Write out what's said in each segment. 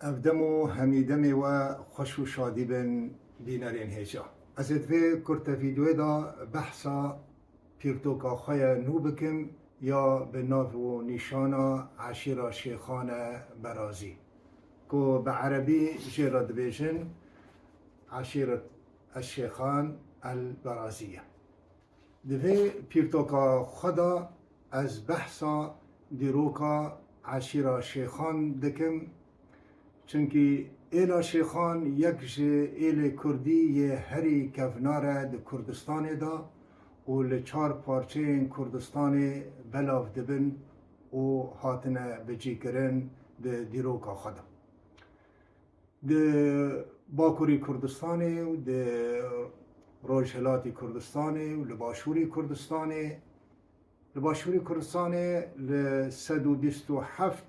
Ev dem û hemî demê we xweş û şadî bin bînerên hêja. Ez ê di vê kurte vîdeoyê de behsa pîrtoka xwe ye nû bikim ya bi nav û nîşana Eşîra Şêxane Berazî ku bi erebî jê re dibêjin Eşîret Eşşêxan El Berazî ye. Di vê pîrtoka xwe de ez behsa dîroka eşîra Şêxan dikim, çimkî êla Şêxan yek ji êlê kurdî yê herî kevnar e di Kurdistanê de û li çar parçeyên Kurdistanê belav dibin û hatine bicîkirin di dîroka xwe de. Di Bakurî Kurdistanê û di Rojhilatî Kurdistanê û li Başûrî Kurdistanê Li Başûrî Kurdistanê li sed û bîst û heft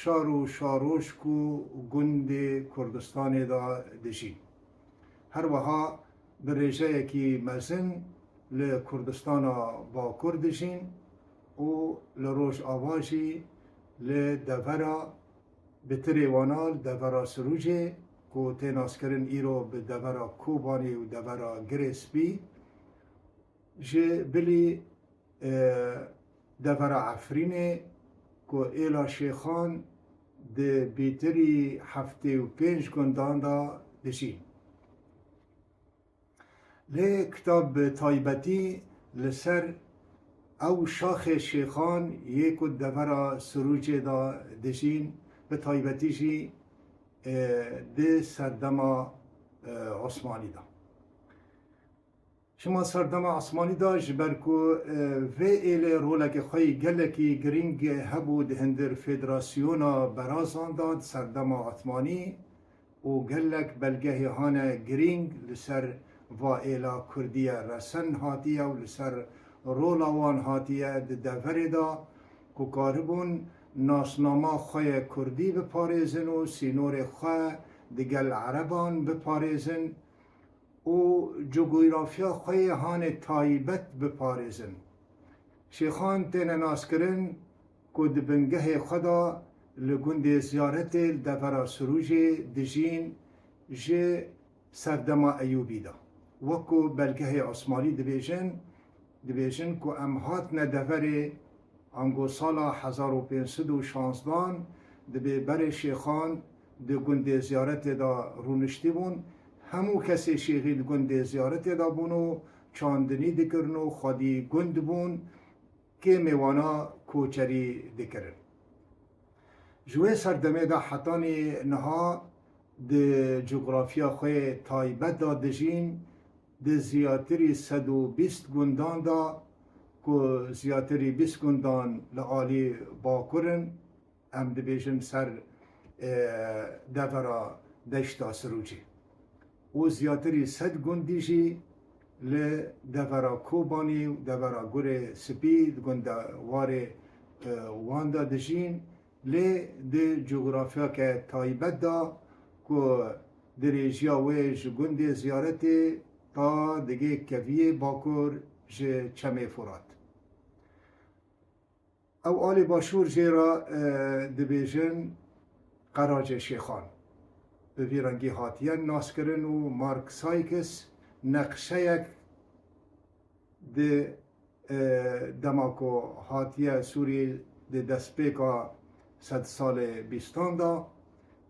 şar û şarojk û gundê Kurdistanê de dijîn. Her wiha bi rêjeyekî mezin li Kurdistana Bakur dijîn û li Rojava jî li devera Bi tirê wanal devera Sirûcê ku tê naskirin îro bi devera Kobanî û devera Girê Spî ji bilî devera Efrînê ku êla şêxan di bîtirî heftê û pênc gundan de dijîn. Lê kitab bi taybetî li ser ew şaxê şêxan yê ku di devera Sirucê de dijîn, bi taybetî jî di serdema Osmanî de. Şima serdema Osmanî de ji ber ku vê êlê roleke xwe yê gelekî girîng hebû di hindir federasyona berazan de di serdema Osmanî, û gelek belgehê hane girîng li ser vaêla Kurdiye resen hatiye û li ser rola wan hatiye di deverê de ku karibûn nasnama xwe yê Kurdî biparêzin û sînorê xwe digel ereban biparêzin. û cugûrafya xwe yê hanê taybet biparêzin. Şêxan têne naskirin ku di bingehê xwe de li gundê Ziyaretê li devera Sirûcê dijîn ji serdema Eyûbî de wek ku belgehê Osmanlî dibêjin Dibêjin ku em hatine deverê ango sala hezar û pênc sed û şanzdan dibê berê şêxan di gundê ziyaretê de rûniştîbûn, hemû kesê şêxî di gundê ziyaretê de bûn û çandinî dikirin û xwedî gund bûn kê mêwana koçerî dikirin. Ji wê serdemê de hetanî niha di cografya xwe taybet de dijîn Di ziyatiri sed û bîst gundan de ku ziyatiri bîst gundan li alî Bakur in, em dibêjin ser devera deşta Sirucê û ziyatiri sed gundî jî li devera Kobanî û devera Gurê Spî di gundewarê wan de dijîn, Lê di cografyake taybet de ku dirêjiya wê ji gundê Ziyaretê ta digê keviyê bakur ji Çemê Furat. Ew alî başûr jê re dibêjin Qeracê Şêxan. Bi vî rengî hatiye naskirin û Mark Sykes neqşeyek. Di dema ku hatiye Sûriyê di destpêka sedsalê bîstan de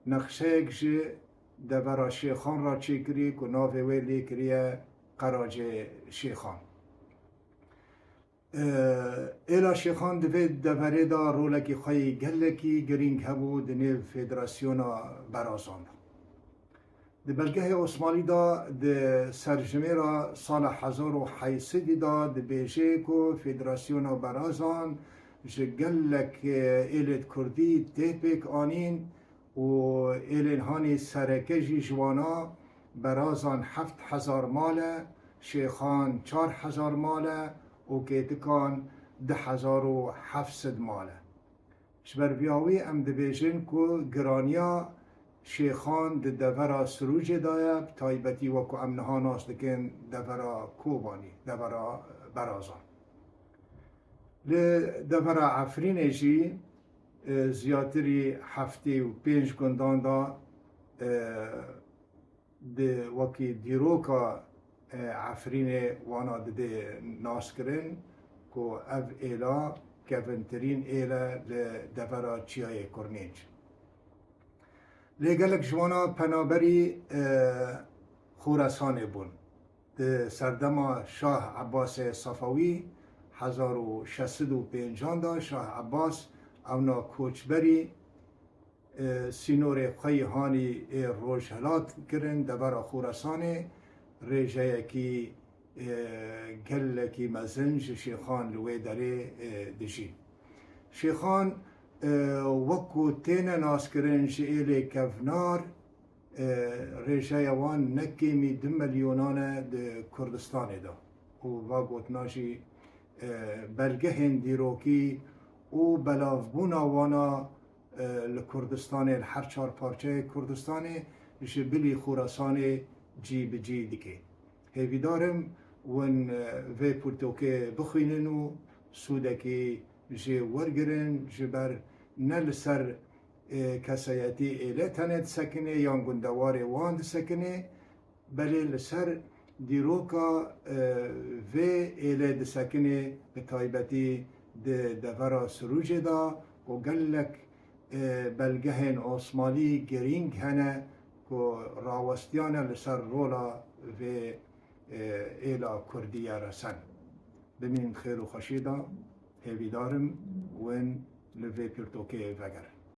nexşeyek ji devera Şêxan re çêkirî ku navê wê lêkiriye Qeracê Şêxan. Êla Şêxan di vê deverê de rolekî xwe yê gelekî girîng hebû di nêv Federasyona Berazan de. Di belgehê Osmanî de di serjimêra sala hezar û heyî sedî de dibêje ku Federasyona Berazan ji gelek êlêd kurdî tê pêk anîn û êlênhanê sereke jî ji wan a, Berazan heft hezar mal e, Şêxan çar hezar mal e û Kêtikan du hezar û heft sed mal e. Ji ber vîya wî em dibêjin ku giraniya şêxan di devera Sirûcê de ye, bi taybetî wek ku em niha nas dikin devera Kobanî, devera Berazan. Li devera Efrînê jî ziyatîrî heftê û pênc gundan de Di wekî dîroka Efrînê wana dibê naskirin ku ev êla kevintirîn êl e li devera Çiyayê Kurnêc. Lê gelek ji wana penaberî Xoresanê bûn. Di serdema Şah Ebasê Sefewî hezar û şeş sed û pênc an de Şah Ebas ewna koçberî, Sînorê xwe yê hanî ê rojhilat kirin devera Xorasanê, rêjeyekî gelekî mezin ji şêxan li wê derê dijîn. Şêxan wek ku têne naskirin ji êlê kevnar, rêjeya wan ne kêmî du milyonan e di Kurdistanê de û va gotina jî belgehên dîrokî û belavbûna wan a Li Kurdistanê li her çar parçeyê Kurdistanê ji bilî Xurasanê cî bi cî dike. Hêvîdar im wan vê pirtûkê bixwînin û sûdekî jê wergirin ji ber ne li ser kesayetî êlê tenê disekinê yan gundewarê wan disekinê, Belê li ser dîroka vê êlê disekinê bi taybetî di devera Sirûcê de ku gelek belgehên osmalî girîng hene ku rawestiyane li ser rola vê êla kurdî ye resen. Bimîn xêr û xweşî de hêvîdarim wên li vê pirtokeyê vegerin.